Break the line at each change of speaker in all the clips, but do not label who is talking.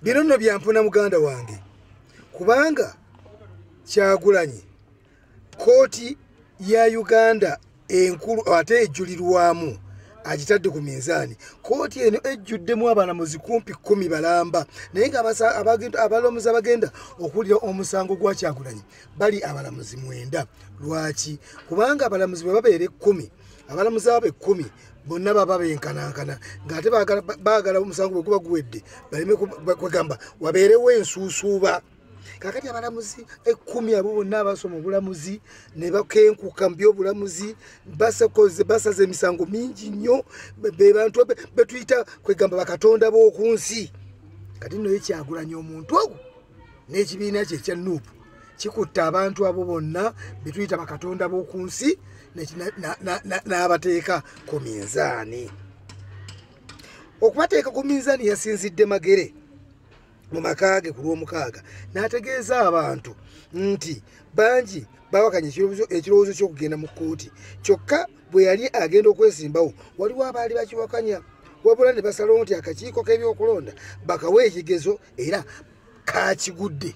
bino nno byampuna muganda wange kubanga kyagulanyi kooti ya uganda enkulu ate ejulirwamu agitadde ku minzaani kooti eno ejjuddemu abalamuzi kumpi kumi balamba naye nga abalamuzi abagenda okuwulira omusango gwa kyagulanyi bali abalamuzi mwenda lwaki kubanga abalamuzi bwe babeera ekkumi abalamuzi abo ekkumi bonna baba benkanankana ng'ate baagala omusango bwe guba guwedde baleme kwegamba wabeerewo ensuusuuba kakati abalamuzi ekkumi abo bonna abasoma obulamuzi ne bakenkuka mu byobulamuzi basaza emisango mingi nnyo be bantu betuyita kwegamba bakatonda b'oku nsi kati nnoyo kyagulanya omuntu ogwo n'ekibiina kye ekya nuupu kikutte abantu abo bonna betuyita bakatonda b'oku nsi n'abateeka ku minzaani okubateeka ku minzaani yasinzidde magere mu maka ge ku lw'omukaaga n'ategeeza abantu nti bangi bawakanya ekirowoozo ky'okugenda mu kkooti kyokka bwe yali agenda okwesimbawo waliwo abaali bakiwakanya wabula ne basalawo nti akakiiko k'ebyokulonda bakawa ekigezo era kakigudde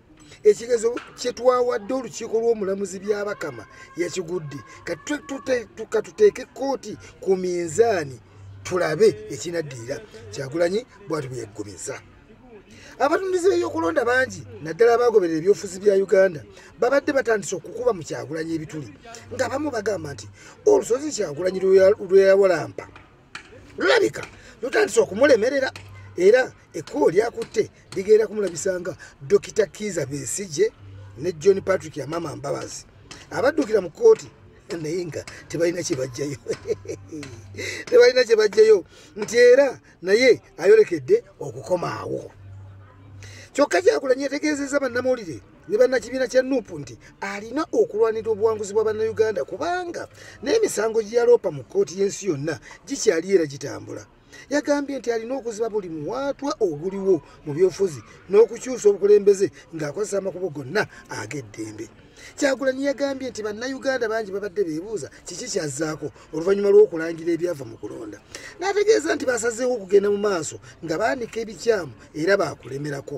ekigezo kyetwawadde olukiiko lw'omulamuzi byabakama yakigudde katuteeke kkooti ku minzaani tulabe ekinaddirira kyagulanyi bwati bwe yaggumiza abatundizi b'ebyokulonda bangi naddala abaagoberera ebyofuzi bya uganda babadde batandise okukuba mu kyagulanyi ebituli ng'abamu bagamba nti olusozi kyagulanyi lweyawalampa lulabika lutandise okumulemerera era ekkubo lyakutte ligenda kumulabisanga dokita kiiza besije ne john patrick yamama mbabazi abaddukira mu kkooti naye nga tebalina kyebajjayo tebalina kyebajjayo nti era naye ayolekedde okukomaawo kyokka kyakulanya etegeezezza bannamawulire ne bannakibiina kya nup nti alina okulwanira obuwanguzi bwa bannayuganda kubanga n'emisango gye yaloopa mu kkooti y'ensi yonna gikyali era gitambula yagambye nti alina okuziba buli muwaatwa oguliwo mu byofuzi n'okukyusa obukulembeze ng'akozesa amakubo gonna ag'eddembe kyagulanyi yagambye nti bannayuganda bangi babadde beebuuza kiki kyazzaako oluvannyuma lw'okulangira ebyava mu kulonda n'ategeeza nti basazeewo okugenda mu maaso nga baanika ebikyamu era baakulemerako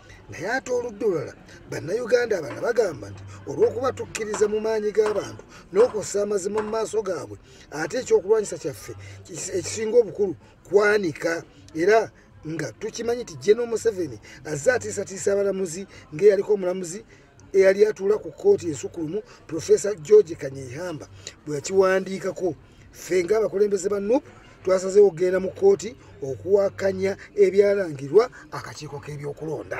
naye ate oludda olulala bannayuganda abana bagamba nti olw'okuba tukkiriza mu maanyi g'abantu n'okussa amazima mu maaso gaabwe ate ekyokulwanyisa kyaffe ekisinga obukulu kwanika era nga tukimanyi nti jeno museveni azze atiisatiisa abalamuzi ng'eyaliko omulamuzi eyali atuula ku kkooti ensukulumu profesa george kanyehamba bwe yakiwandiikako ffe ng'abakulembeze ba nup twasazeewo okugenda mu kkooti okuwakanya ebyalangirwa akakiiko k'ebyokulonda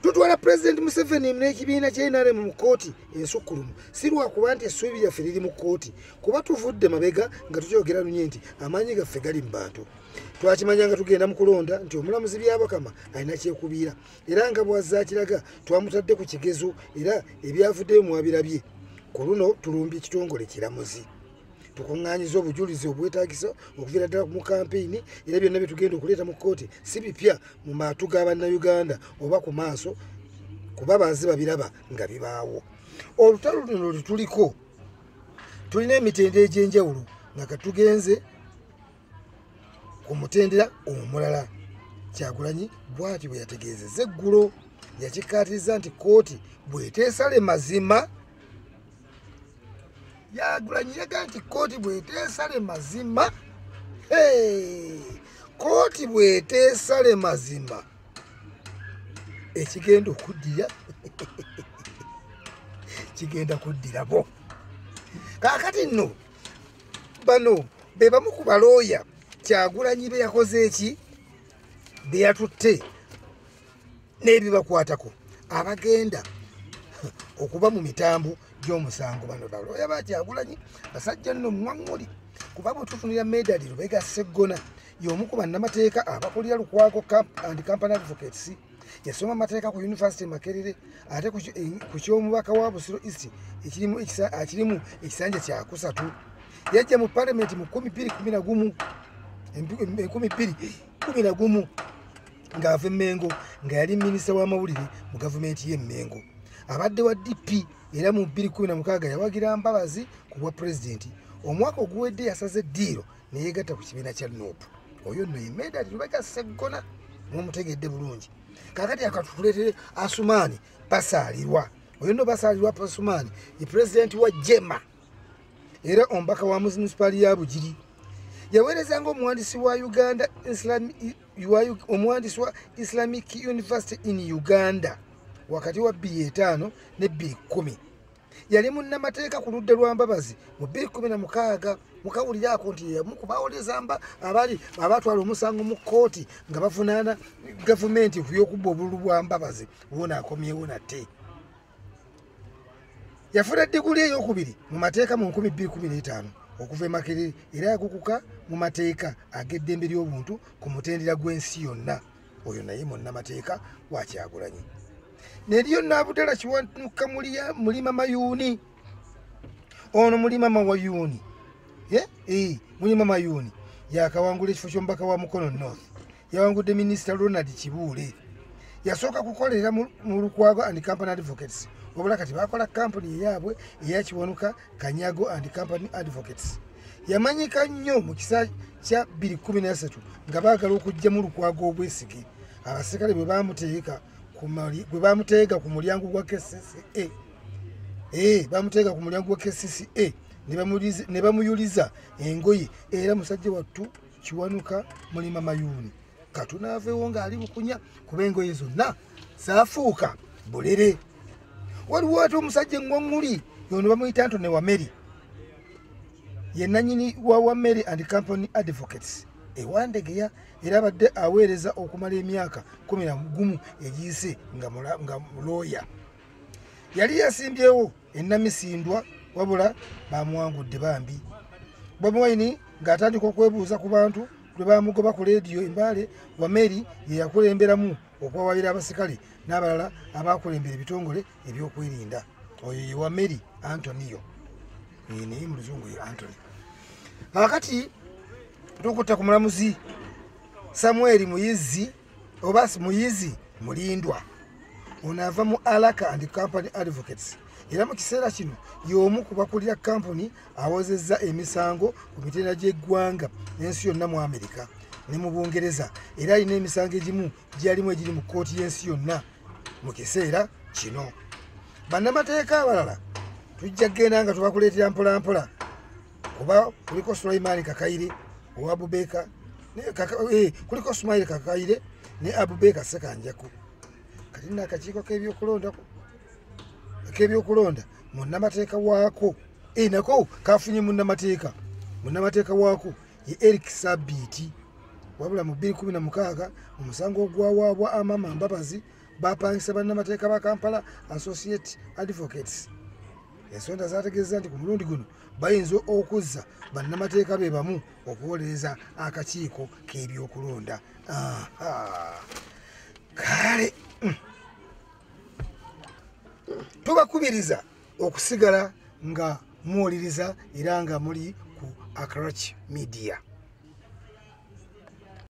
tutwala pulezidenti museveni n'ekibiina kya nrm mu kkooti ensukkulumu si lwakuba nti essuubi lyaffe liri mu kkooti kuba tuvudde mabega nga tukyogera lunye nti amaanyi gaffe gali mu bantu twakimanya nga tugenda mu kulonda nti omulamuzi byabakama alina kyekubiira era nga bwazakiraga twamutadde ku kigezo era ebyavuddeyo mwabirabye ku luno tulumbye ekitongole kiramuzi tukuŋŋanyiza obujulizi obwetagisa okuviira ddala mu kampeyini era byonna byetugenda okuleeta mu kkooti si bipya mu maatu ga bannayuganda oba ku maaso kuba bazi babiraba nga bibaawo olutalo luno lwetuliko tulina emitendera egy'enjawulo nga katugenze ku mutendera omulala kyagulanyi bwati bwe yategeezeza eggulo yakikkaatiriza nti kkooti bweteesale mazima yagulanyi yaga nti kkooti bweteesale mazima kkooti bweteesale mazima ekigenda okuddira kigenda kuddirabo kaakati nno bano be bamu ku balooya kyagulanyi be yakoze eki be yatutte n'ebibakwatako abagenda okuba mu mitambo gy'omusango bano balooya ba kyagulanyi basajja nno mwaŋŋuli kuba bwe tufunira medali lubega seggona y'omu ku bannamateeka abakulira lukwago and company advocates yasoma amateeka ku yunivasite makerere ate ku eh, ky'omubaka wa busiro east ekirimu ekisanja kyakusatu yajja mu palamenti mu kumi bbiri kumi nagumu enkumi bbiri kumi nagumu ng'ava emmengo nga yali minisita w'amawulire mu gavumenti y'emmengo abadde wa dp era mu bbiri kumi na mukaaga yawagira mbabazi ku bwa pulezidenti omwaka oguwedde yasaze eddiiro neyegatta ku kibiina kya nup oyo nno yemedali lubega seggona mumutegedde bulungi kakati akatutuletere asumaani basaalirwa oyo nno basaalirwa asumaani ye pulezidenti wa jema era omubaka wa munisipaali ya bugiri yaweereza nga omuwandisi wa uganda omuwandisi wa islamic university in uganda wakati wa bbi etaano ne bbi kumi yali munnamateeka ku ludda lwa mbabazi mu bbiri kumi na mukaaga mukawulire ako nti yeyamu ku bawolezamba abali abatwala omusango mu kkooti nga bavunaana gavumenti ku byokubba obululu bwa mbabazi wona akomyewo nate yafuna diguli eyokubiri mu mateeka mu 215 okuva emakere era yakukuka mu mateeka ag'eddembe ly'obuntu ku mutendera gw'ensi yonna oyo naye munnamateeka wakyagulanyi neriyo nabudala kiwanuka mulima mayuuni ono mulima mawayuuni eh, eh, mulima mayuuni yakawangula ekifo kyomubaka wa mukono north yawangudde minisita ronald kibuule yasooka kukolera mu lukwago and company advocates wabula kati bakola kampuni eyaabwe eyakiwanuka kanyago and company advocates yamanyika nnyo mu kisa kya 213 nga baagala okugyamu lukwago obwesige abaserikale bwe bamuteeka gwe bamuteega ku mulyango gwa kcca e eh, bamuteega ku mulyango gwa kcca e ne bamuyuliza engoye era musajja wattu kiwanuka mulima mayuuni katunaavewo ng'ali bukunya kuba engoye zonna zaafuuka bulere waliwo ate omusajja eŋŋoŋŋuli yono bamuyita nto ne wameri ye nanyini wa wa mary and company advocates ewandegeya era abadde aweereza okumala emyaka kumi na gumu egiyise nga mulooya yali yasimbyewo enamisindwa wabula bamuwangudde bambi bobiwine ng'atandika okwebuuza ku bantu lwe bamugoba ku leediyo embaale wameri ye yakulemberamu okwawabira abasikale n'abalala abakulembera ebitongole ebyokwerinda oyo ye wa mary antoniyo naye mu luzungu ye antony kakati tukutta ku mulamuzi samueli muyizi oba muyizi mulindwa ono ava mu alaka and company advocates era mu kiseera kino y'omu ku bakulira kampuni awozezza emisango ku mitendera gy'eggwanga n'ensi yonna mu amerika ne mu bungereza era alina emisango egimu gyalimu egiri mu kkooti y'ensi yonna mu kiseera kino bannamateeka abalala tujja kugenda nga tubakuleetera mpolampola kuba kuliko sulaimaani kakayire owa bubeeka eh, kuliko sumaire kakayire ne abubeeka sekanjaku kati nakakiiko k'ebyokulonda k'ebyokulonda munnamateeka waako eh, nako kafunye munnamateeka munnamateeka waako ye eric sabiiti wabula mu 216 omusango ogwawaabwa amama mbabazi bapangisa bannamateeka ba kampala associate advocates ensonda zategeeza nti ku mulundi guno bayinza okuzza bannamateeka be bamu okuwolereza akakiiko k'ebyokulonda kale mm. tubakubiriza okusigala nga muwuliriza era nga muli ku acrach media